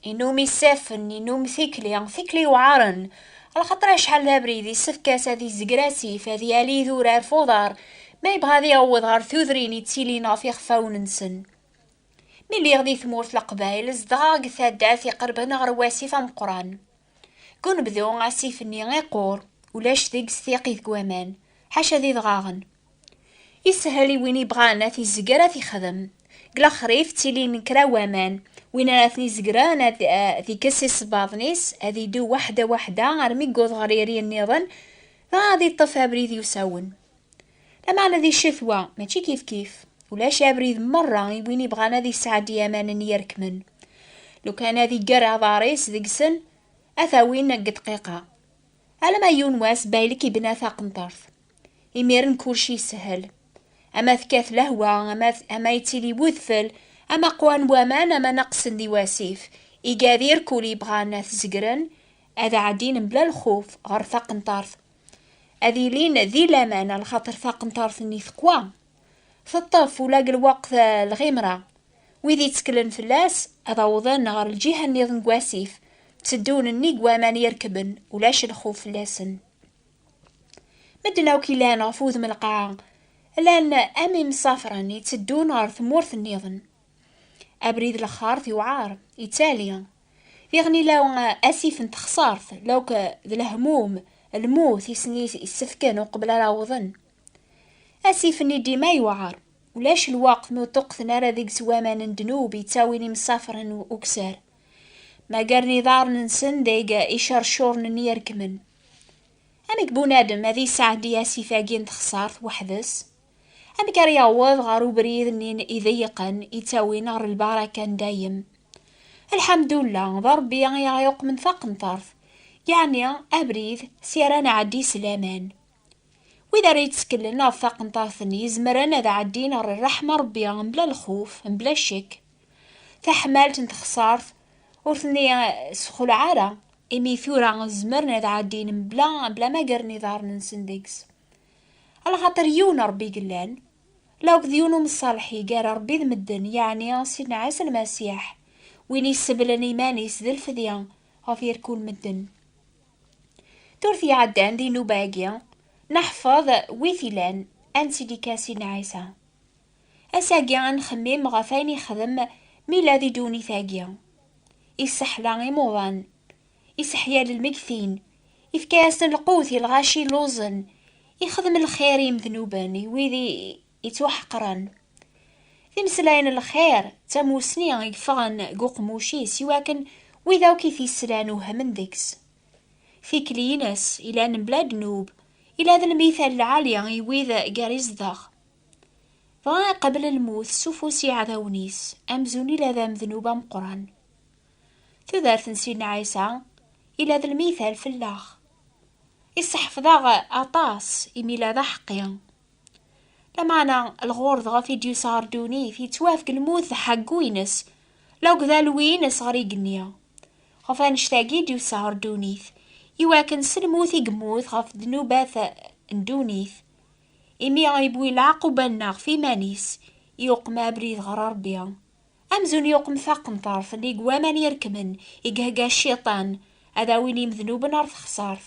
Inum isaffen, inum tikli, tikli yuɛaren. Lxaṭer acḥal d abrid, yessefk-as ad izger asif, ad yali idurar f uḍar, ma yebɣa ad iɛewweḍ ɣer tudrin yettilin ɣef yixfawen-nsen. Mi lliɣ di tmurt Leqbayel, zedɣeɣ deg taddart iqerben ɣer wasif ameqqran. Deg unebdu, asif-nni iqur, ulac deg-s tiqit n waman, ḥaca d idɣaɣen. Isehel i win ibɣan ad t-izger ad t-ixdem. Deg lexrif ttilin kra waman, win ara ten-izegren ad t-ikes eh, isebbaḍen-is, ad idu waḥda waḥda armi yuweḍ ɣer iri nniḍen, dɣa ad iṭṭef abrid yusawen. Lameɛna di ccetwa, mačči kifkif, ulac abrid merra i win ibɣan ad yesɛeddi amanen yerkmen. Lukan ad iger aḍar-is deg-sen, ad t-awin deg dqiqa. Alamma yiwen wass Baylek ibna taqenṭert. Imiren kulci yeshel. Ama tekkat lehwa, ama, ama yettili wudfel, ama qwan waman, ama naqsen di wasif, igadir kul yebɣan ad t-zegren, ad ɛeddin mebla lxuf ɣer taqenṭart. Ad ilin di laman ar lxaṭer taqenṭart-nni teqwa, teṭṭef ula deg lweqt lɣimra. Wid yetteklen fell-as ad awḍen ɣer lǧiha-nniḍen n wasif, tteddun nnig waman i rekben, ulac lxuf fell-asen. Medden akk yellan ɣef wudem lqaɛa, llan am imsafren itteddun ɣer tmurt nniḍen. Abrid lexxart yewɛer, yettali. Diɣen ila asif n texsart, lawk d lehmum, lmut i sen-issefken uqbel ara awḍen. Asif-nni dima yewɛer, ulac lweqt n uṭuqten ara deg-s waman n ddnub yettawin imsafren ukessar. Magaren iḍarren-nsen deg icercuren n yirkmen. Amek bunadem ad yesɛeddi asif-agi n texsart weḥd-s? Amek ara yaweḍ ɣer ubrid-nni ideyyqen yettawin ɣer lbaraka n dayem? Lḥamdullah, d Rebbi i aɣ-yuqmen taqenṭert, yeɛni abrid si ara nɛeddi s laman. Wid ara yettkellen ɣef taqenṭart-nni zemren ad ɛeddin ɣer rreḥma Rebbi mebla lxuf, mebla ccek. Taḥmalt n texṣart ur ten-issexlaɛ ara, imi tura zemren ad ɛeddin mebla mebla ma gren iḍarren-nsen deg-s. Alxaṭer yiwen Rebbi yellan, la akked yiwen umṣalḥ i gar Rebbi d medden, yeɛni Sidna Ɛisa Lmasiḥ, win yesseblen iman-is d lfedya ɣef yerkul medden. Turt iɛeddan di nnuba-agi, neḥfeḍ wi t-ilan, ad nettili kan s Sidna Ɛisa. Ass-agi ad nxemmim ɣef ayen yexdem mi yella di ddunit-agi. Isseḥla imuḍan, isseḥya lmeggtin, ifka-yasen lqut i lɣaci illuẓen, ixdem lxir i yimednuben, i wid yettwaḥeqren. Timeslay n lxir d tamusni i yeffɣen deg uqmuc-is i wakken wid akk i t-yeslan uhmen deg-s. Tikli-ines ilan mebla ddnub, ila d lmithal lɛali i wid gar izdeɣ. Dɣa iqabel lmut s ufus iɛdawen-is, amzun ila d amednub ameqqran. Tudert n Sidna Ɛisa ila d lmithal fellaɣ. Isseḥfeḍ-aɣ aṭas imi ila d aḥeqqi. Lameɛna, lɣur dɣa i d-yesɛa ar ddunit, yettwafk lmut d ḥeggu-ines, lakked alwi-ines ɣer igenni. Ɣef annect-agi i d-yesɛa ar ddunit, i wakken s lmut i yemmut ɣef ddnubat n ddunit, imi iwwi leɛquba-nneɣ ɣef iman-is, yuqem abrid ɣer Rebbi, amzun yuqem taqenṭert nnig waman irekmen i ihegga Cciṭan ad awin imednuben ar texṣart.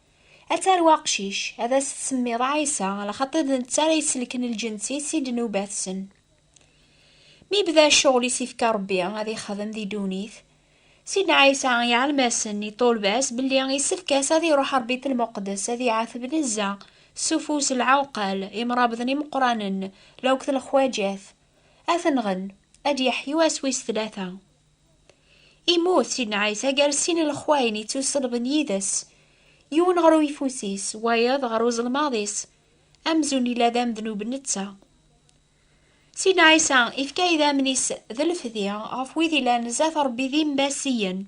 Ad tarew aqcic, ad as-tsemmiḍ Ɛisa, ɣer xaṭi d netta ara iselken lǧens-is i ddnubat-sen. Mi yebda ccɣel i s-ifka Rebbi ad ixdem di ddunit, Sidna Ɛisa iɛlem-asen i ṭṭulba-s belli issefk-as ad iruḥ ɣer Bit Lmuqdes ad iɛateb nezza s ufus n lɛewqal imrabḍen imeqqranen, lewqt n lexwaǧat, ad ten-nɣen, ad d-yeḥyu ass wis tlata. Immut Sidna Ɛisa gar sin n lexwayen yettuselben yid-s, yiwen ɣer uyeffus-is, wayeḍ ɣer uzelmaḍ-is, amzun yella d amednub netta. Sidna Ɛisa ifka idammen-is d lefdi ɣef wid yellan zdat Rebbi d imbasiyen.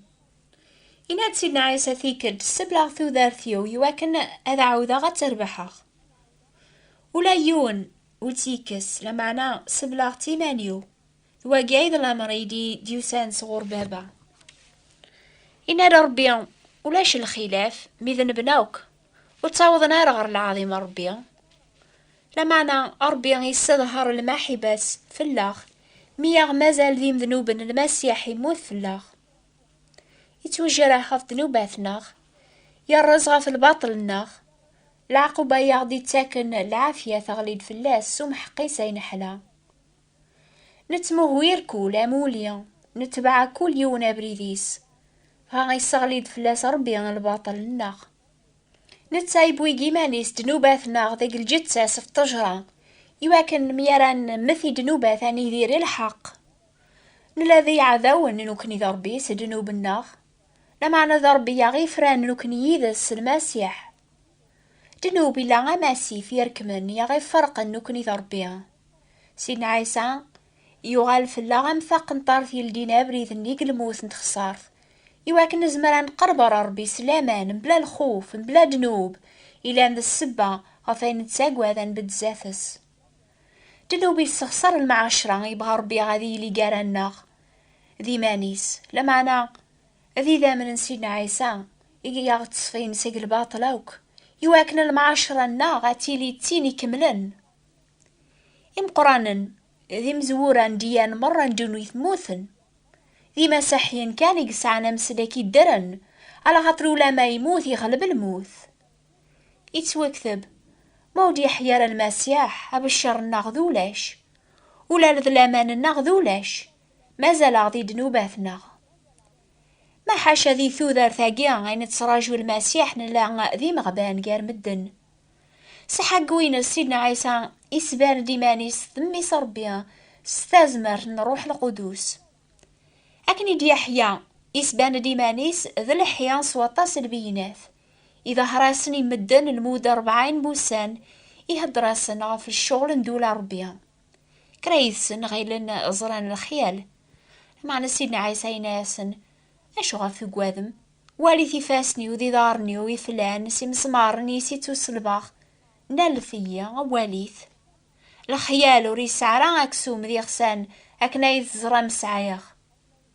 Yenna-d Sidna Ɛisa tikkelt, sebleɣ tudert-iw i wakken ad ɛawdeɣ ad tt-rebḥeɣ. Ula yiwen ur tt-yekkes, lameɛna sebleɣ-tt iman-iw, d wagi ay d lamer ay d-yusan sɣur baba. Inna-d Rebbi, ulac lxilaf, mi d nebna akk, ur ttawḍen ara ɣer lɛaḍim n Rebbi. Lameɛna Rebbi yesseḍher lmaḥiba-s fell-aɣ, mi aɣ-mazal d imednuben Lmasiḥ immut fell-aɣ. Yettwejreḥ ɣef ddnubat-nneɣ, yerreẓ ɣef lbaṭel-nneɣ, leɛquba ay aɣ-d-yettaken lɛafya teɣli-d fell-as s umḥeqqis ay neḥla. Nettmuhwir kul amuli, netbeɛ kul yiwen abrid-is, dɣa isseɣli-d fell-as Ṛebbi lbaṭel-nneɣ. Netta yewwi deg iman-is ddnubat-nneɣ deg lǧetta-s f ṭṭejṛa, iwakken mi ara nemmet i ddnubat ad nidir i lḥeqq. Nella d iɛdawen nekkni d Ṛebbi s ddnub-nneɣ, lameɛna d Ṛebbi i aɣ-ifran nekkni yid-s s Lmasiḥ. Dnub ila amasif yerkmen i aɣ-iferqen nekkni d Ṛebbi. Sidna Ɛisa yuɣal fell-aɣ am taqenṭart yeldin abrid nnig lmut n txeṣṣart. I wakken nezmer ad neqreb ɣer Ṛebbi s laman, mebla lxuf, mebla dnub, ilan d ssebba ɣef ay nettagad ad nbedd zdat-s. Dnub yessexṣer lmeɛacra, yebɣa Ṛebbi ad yili gar-aneɣ d iman-is, lameɛna D idammen n Sidna Ɛisa i yaɣ-d-ṣfin seg lbaṭel akk, i wakken lemɛaceṛa-nneɣ ad tili d tin ikemlen. Imeqranen d imezwura n diyyan meṛṛa n ddunit mmuten. D imasaḥiyen kan i yesɛan amesdek iddren, alaxaṭer ulamma yemmut iɣleb lmut. Ittwekteb, Ma ur d-yeḥya ara Lmasiḥ, abecceṛ-nneɣ d ulac. Ula d laman-nneɣ d ulac, Mazal-aɣ di ddnubat-nneɣ. Ma ḥaca di tudert-agi i nettraǧu Lmasiḥ nella d imeɣban gar medden. S ḥaggu-ines Sidna Ɛisa isban-d iman-is d Mmi-s Ṛebbi s tazmert n Ṛṛuḥ Lqudus. Akken i d-Yeḥya isban-d iman-is d leḥya s waṭas n lbeyyinat, iḍehher-asen i medden lmudda ṛebɛin n wussan, ihedder-asen ɣef ccɣel n ddula n Ṛebbi. Kra yid-sen ɣilen ẓran lexyal. Meɛna Sidna Ɛisa yenna-yasen, Acuɣer tugadem? Walit ifassen-iw d iḍarren-iw iflan s imesmaren i s-ittuselbaɣ. Nalet-iyi, walit. Lexyal ur yesɛi ara aksum d iɣsan akken ay teẓram sɛiɣ.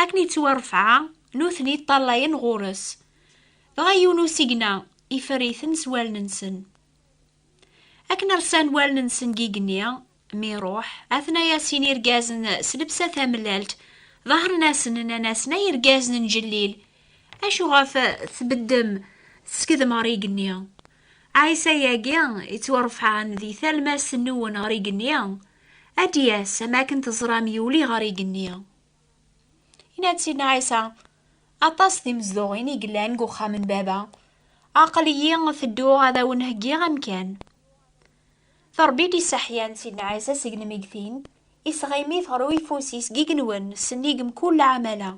Akken yettwa rrefɛa, nutni ṭṭalayen ɣur-s. Dɣa yiwen usigna iferr-iten s wallen-nsen. Akken rsan wallen-nsen deg igenni, mi iruḥ, atnaya sin irgazen s lebsa tamellalt, ḍehren-asen, nnan-asen, Ay irgazen n Jellil, acu ɣef tbeddem teskedem ɣer igenni? Ɛisa-agi yettwarefɛen di talmast-nwen ɣer igenni, Ad d-yas, am akken teẓram, yuli ɣer igenni. Yenna-d Sidna Ɛisa, Aṭas timezduɣin i yellan deg uxxam n Baba. Aql-iyi tedduɣ ad awen-heggiɣ amkan. D Rebbi i d-isseḥyan Sidna Ɛisa seg lmeggtin, isɣimit ɣer uyeffus-is deg yigenwen, sennig mkul lɛamala.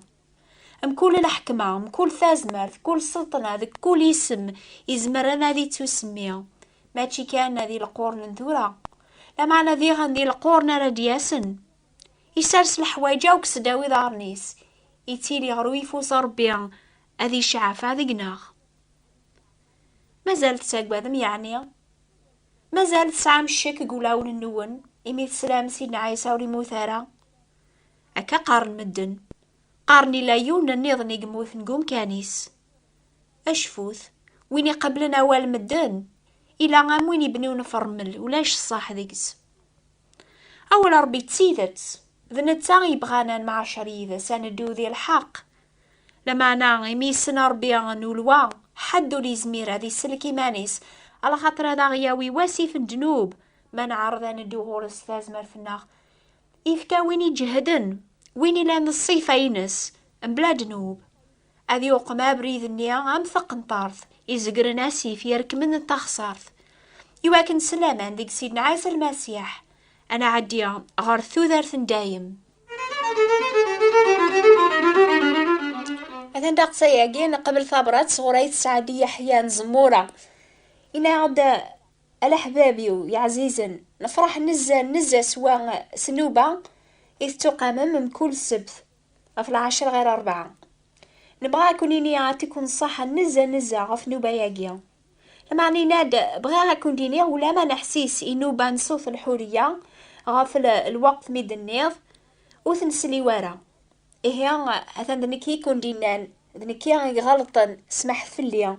Mkul lḥekma, mkul tazmert, kul sseṭṭna deg kul isem izemren ad ittusemmi, mačči kan di lequrn n tura, lameɛna diɣen di lequrn ara d-yasen. Isers leḥwayeǧ akk sdaw iḍarren-is, ittili ɣer uyeffus n Ṛebbi ad icɛafa deg-neɣ. Mazal tettagadem yeɛni? Mazal tesɛam ccek deg wulawen-nwen imi teslam Sidna Ɛisa ur immut ara? Akka qqaren medden. Qqaren ila yiwen nniḍen i yemmuten deg umkan-is. Acfut, win iqablen awal medden, ila am win ibniwen fermel, ulac ṣṣaḥ deg-s. Awal Rebbi d tidet, d netta i yebɣan ad nemɛacer yid-s, ad neddu di lḥeqq. Lameɛna, imi yessen Rebbi nulwa, ḥedd ur yezmir ad isellek iman-is, alaxaṭer ad aɣ-yawi wasif n ddnub ma neɛreḍ ad neddu ɣur-s tazmert-nneɣ. Ifka win iǧehden, win ilan ṣṣifa-ines, mebla ddnub. Ad yuqem abrid-nni am taqenṭart, izegren asif, irekmen d taxsart. I wakken s laman deg Sidna Ɛisa Lmasiḥ, ad nɛeddi ɣer tudert n dayem. Atan daqsa-agi, neqbel tabrat sɣur Ayt Sɛadiya Ḥya n Zemura. Yenna-aɣ-d Alaḥbab-iw yeɛzizen, nefreḥ nezzeh nezzeh s wa s nuba i tettuqamem mkul ssebt ɣef lɛecr ɣir rebɛa. Nebɣa a kun-ini atiku nṣaḥa nezzeh nezzeh ɣef nuba-yagi. Lameɛna yenna-d, Bɣiɣ a kun-d-iniɣ ulamma neḥsis i nuba n Sewt Lḥuriya ɣef lweqt mi d-tenniḍ ur ten-sliw ara. Ihi atan d nekk i kun-d-innan, d nekki i iɣelṭen, smeḥet fell-i.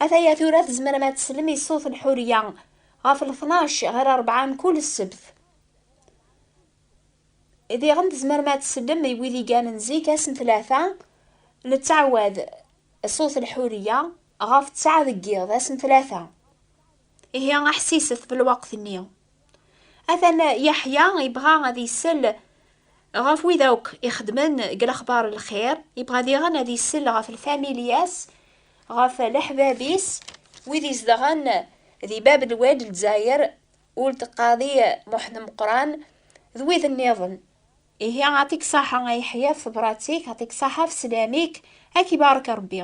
Ataya tura tzemrem ad teslem i ṣṣut n Ḥuriya ɣef lṭnac ɣer rebɛa mkul ssebt. Diɣen tzemrem ad teslem i wid i ganen zik ass n tlata, nettɛawad, ṣṣut n Ḥuriya ɣef ttɛa deg yiḍ, ass n tlata. Ihi aḥsiset belwaqt-nni. Atan Yeḥya yebɣa ad isel ɣef wid akk ixedmen deg lexbar n lxir, yebɣa diɣen ad isel ɣef lfamilyas, ɣef leḥbab-is, wid izedɣen di Bab n Wad Lezzayer, Ould Qadi Muḥend Meqqran d wid nniḍen. Ihi atik saḥa a Yeḥya ɣef tebrat-ik, atik saḥa ɣef sslam-ik, a k-ibarek Rebbi.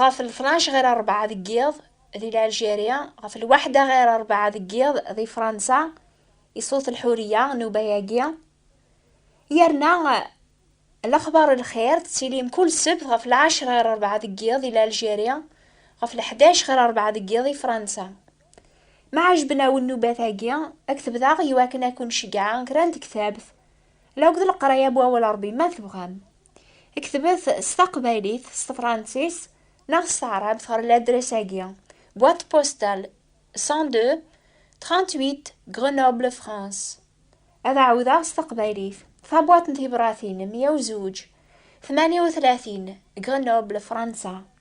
ɣef lṭnac ɣir rebɛa deg yiḍ di Lɛelǧirya, ɣef lwaḥda ɣir rebɛa deg yiḍ di Fransa, i Ṣut Lḥuriya, nnuba-agi. Yerna lexbar n lxir tettilim kul ssebt ɣef lɛecra ɣir rebɛa deg yiḍ di Lɛelǧirya, ɣef leḥdac ɣir rebɛa deg yiḍ di Fransa. Ma ɛejben-awen nnubat-agi, ad k-tebdaɣ i wakken ad ken-ceggɛeɣ kra n tektabt La akked leqraya n wawal Ṛebbi ma tebɣam. Ketbet s taqbaylit, s tefṛansis neɣ s taɛṛabt ɣer ladres-agi, Boîte postale 102 38 Grenoble, France. Ad ɛawdeɣ s taqbaylit, Tabwaṭ n tibṛatin 102 38 Grenoble, Fransa.